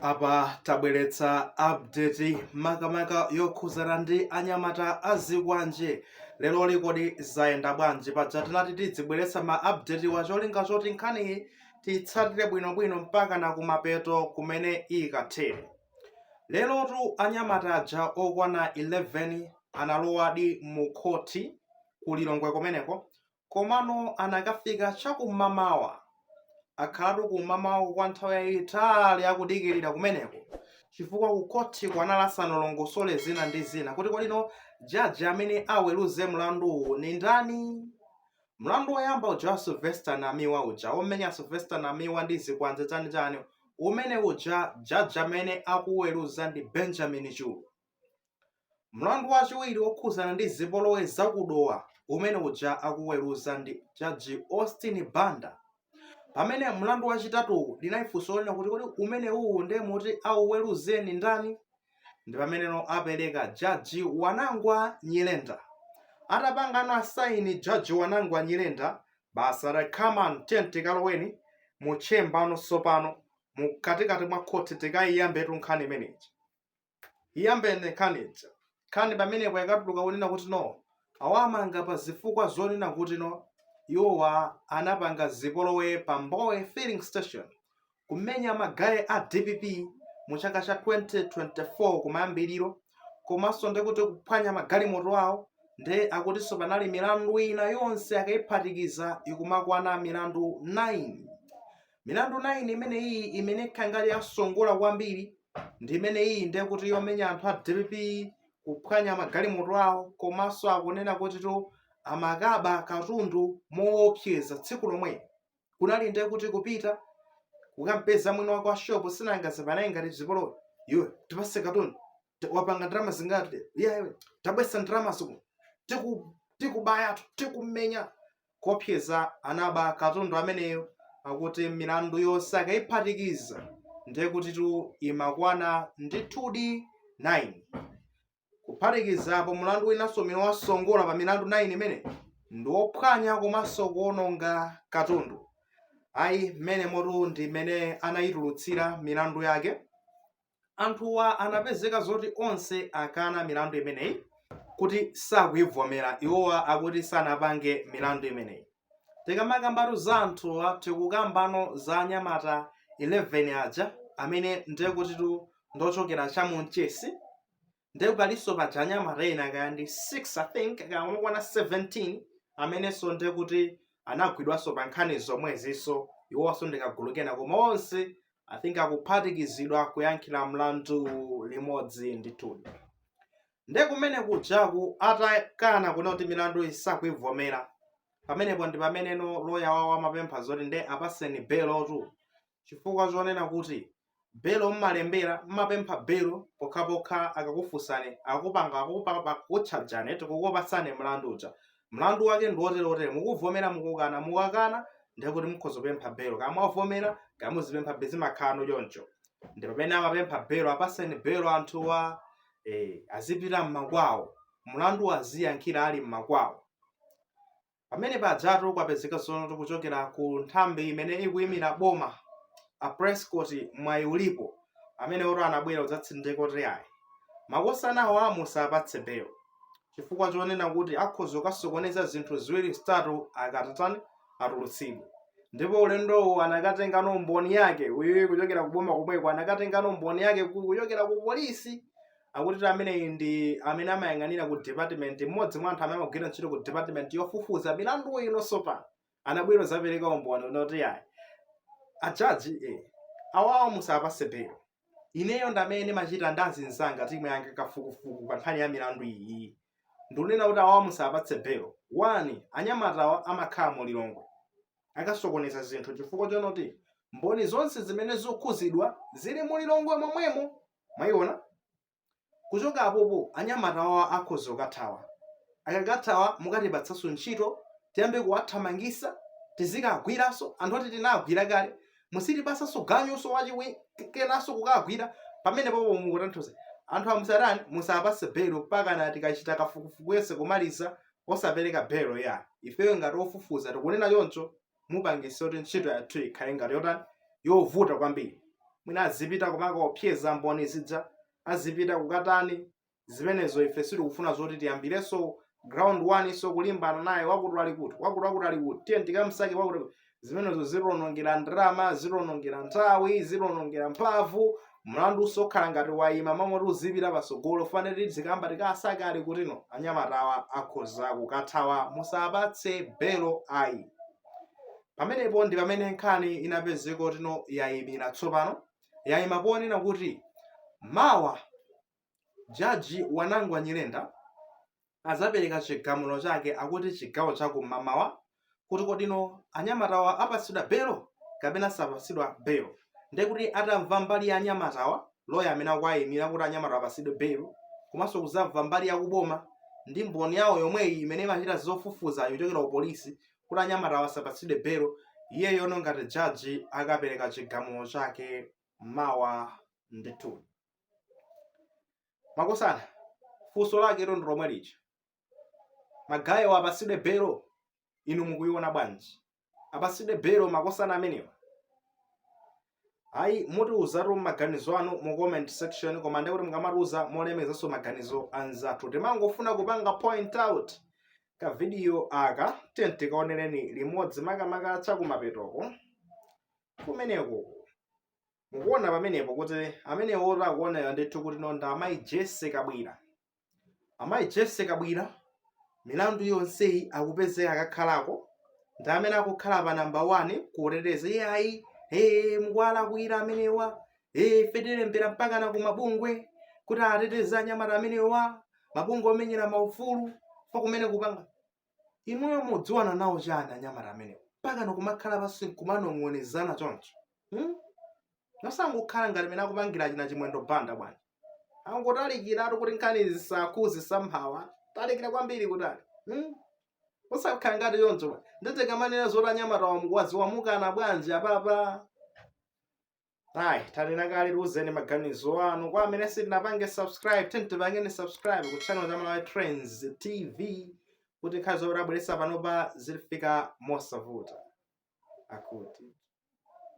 apa tabweretsa update makamaka yokhuzana ndi anyamata azikwanje leroli kodi zayenda bwanji paja tinati tidzibweretsa ma update wa cholinga choti nkhaniyi tiyitsatire bwinobwino mpaka na kumapeto kumene ikathere lerotu anyamata aja okwana 11 analowadi mu khoti ku lilongwe kumeneko Komano anakafika cha kum'mamawa. Akhalatu kum'mamawako kwa nthawi yaitali akudikirira kumeneko chifukwa kukhoti kuja anali asanalongosole zina ndi zina kuti kodi no jaji amene aweruze mlanduwu ni ndani. Mlandu woyamba uja wa Sylvester Namiwa uja womenya Sylvester Namiwa ndi zikwanje chanichani umene uja jaji amene akuweruza ndi Benjamin Chulu. Mlandu wachiwiri wokhuzana ndi zipolowe za ku Dowa umene uja akuweruza ndi jaji Austin Banda. Pamene mlandu wachitatuwu linali funso lonena kuti kodi umenewuwu nde moti auweruzeni ndani? Ndi pameneno apereka jaji Wanangwa Nyirenda. Atapangano asaini Judge Wanangwa Nyirenda, basi atati come on tiyeni tikaloweni mu chamber no tsopano, mu katikati mwa khoti tikaiyambetu nkhani imeneyi. iyambene nkhani ija nkhani pamenepo ikatuluka kunena kuti no awamanga pa zifukwa zonena kuti no iwowa anapanga zipolowe pa mbowe filling station kumenya magaye a dpp mu chaka cha 2024 kumayambiriro komanso ndi kuti kuphwanya magalimoto awo nde akutinso panali milandu ina yonse akayiphatikiza ikumakwana milandu 9 milandu 9 imene iyi imene ikukhala ngati yasongola kwambiri ndi imene iyi ndiye kuti yomenya anthu a dpp kuphwanya magalimoto awo komanso akunena kutitu amakaba katundu moopseza tsiku lomwelo kunali ndiye kuti kupita kukampeza mwini wake wa shopu si anangazipanga ngati zipolowe iwe tipatse katundu T- wapanga ndalama zingati iya iwe tabweretsa ndalama zako tiku tikubaya tikumenya kuopseza anaba katundu ameneyo akuti milandu yonse akayiphatikiza ndiye kutitu imakwana ndithudi 9 kuphatikizapo mlandu winanso umene wasongola pa milandu 9 imeneyi ndi wophwanya komanso kuwononga katundu ayi mmenemotu ndi mmene anayitulutsira milandu yake anthuwa anapezeka zoti onse akana milandu imeneyi kuti sakuivomera iwowa akuti sanapange milandu imeneyi tikamakambatu za anthuwa tikukambano za anyamata 11 aja amene ndekutitu ndochokera cha mu Mchesi nde palinso paja anyamata ena kaya ndi 6 i think kaya amakwana 17 amenenso nde kuti anagwidwanso pa nkhani zomwezinso iwonso ndi kagulu kena koma onse i think akuphatikizidwa kuyankhira mlandu limodzi ndithudi nde kumene kujaku atakana kunena kuti milanduyi sakuivomera pamenepo ndi pameneno loya wawo amapempha zoti nde apaseni belotu chifukwa chonena kuti belo mmalembera mumapempha belo pokhapokha akakufunsani akupanga akukutchajani eti kukupatsani mlandu uja mlandu wake ndi wotere wotere mukuvomera mukukana mukakana ndiye kuti mukhoza kupempha belo kaya mwavomera kaya muzipemphabe zimakhalano choncho ndi pamene amapempha belo apaseni belo anthuwa eh, azipita mmakwawo mlandu aziyankhira ali mmakwawo Pamene pajatu kwapezeka zonoti kuchokera ku nthambi imene ikuyimira boma a Prescott mwayi ulipo amenewotu anabwera kudzatsindika kuti ayi makosanawa musawapatse belo chifukwa chonena kuti akhoza kukasokoneza zinthu ziwiri zitatu akatatani atulutsidwe ndipo ulendowu anakatengano mboni yake uyuyu kuchokera ku boma komweko anakatengano mboni yake ku- kuchokera ku polisi akutitu ameneyi ndi amene amayang'anira ku department mmodzi mwa anthu amene amagwira ntchito ku department yofufuza milandu iwonso pano anabwera kudzapereka umboni wonoti ayi ajaji eh, awawa musawapase belo ineyo ndamene ndimachita ndi azinzanga timu yanga kafukufuku pa nkhani ya milandu iyi ndikunena kuti awawa musawapatse belo wani anyamatawa amakhala mu lilongwe akasokoneza zinthu chifukwa chonoti mboni zonse zimene zikukhuzidwa zili mu lilongwe momwemo mwayiona kuchoka apopo anyamata wawa akhoza kukathawa akakathawa mukatipatsanso ntchito tiyambe kuwathamangisa tizikagwiranso anthu oti tinagwira kale musatipasenso ganyunso wachikenanso kukagwira pamene popo mukutanthauza anthu musatani musawapase belo mpakana tikachita kafukufuku yense kumaliza osapereka belo ya ifeyo ngati ofufuza tikunena choncho mupangisa kuti ntchito yathu ikhale ngati yotani yovuta kwambiri mwina azipita kumakaopseza mboni zija azipita kukatani zimenezo ife sitikufuna zoti tiyambirenso ground one nso kulimbana naye wakuti ali kuti wakuti wakuti ali kuti tiye tikamsake wakuti zimenezo zitionongera ndalama zitionongera nthawi zitionongera mphamvu mlandu uzikhala ngati wayima mmalo moti uzipita pasogolo fane tidzikamba tikasake ali kuti no anyamatawa akhoza kukathawa musawapatse belo ayi pamenepo ndi pamene nkhani inapezeka kuti no yayimira tsopano yayima ponena kuti mawa jaji wanangwa nyirenda adzapereka chigamulo chake akuti chigawo cha kumamawa kuti kodino anyamatawa apatsidwa belo kapena sapatsidwa belo ndiye kuti atamva mbali ya anyamatawa loya amene akuwayimira kuti anyamatawa apatsidwe belo komanso kudzamva mbali ya kuboma ndi mboni yawo yomweyi imene imachita zofufuza yochokera ku polisi kuti anyamatawa asapatsidwe belo iyeyono ngati jaji akapereka chigamulo chake mawa ndithu makosana funso lake ilo ndilomwe lija magayewo apatsidwe belo inu mukuiona bwanji apatsidwe belo makosana amenewa ayi mutiuzatu maganizo anu mu comment section koma ndiye kuti mukamatiuza molemekezanso maganizo anzathu timangofuna kupanga point out kavidiyo aka tiyeni tikaonereni limodzi makamaka chakumapetoko kumeneko mukuona pamenepo kuti amenewo takuonani ndithu kuti no ndi amayi jese kabwira amayi jese kabwira milandu yonseyi akupezeka akakhalako ndi amene akukhala pa namba 1 kuteteza iyayi ee mukuwalakwira amenewa ee ife tilembera mpaka na kumabungwe kuti ateteze anyamata amenewa mabungwe omenyera maufulu fokumene kupanga inuyo mudziwana nawo chani anyamata amenewa mpakana kumakhala pansi nkumanong'onezana choncho hmm? nosangokhala ngati mene akupangira achina chimwendo banda bwanji angotalikiratu kuti nkhani zisakukhuze somehow talikira kwambiri kutali hmm? usakhala ngati choncho bwana nde tikamanena zoti anyamatawa mukuwadziwa mukana bwanji apapa ayi tanena kale tiuzeni maganizo anu kwa amene sitinapange subscribe tiyeni tipangeni subscribe ku channel cha malawi trends tv kuti nkhani zomwe tabweretsa panopa zitifika mosavuta akuti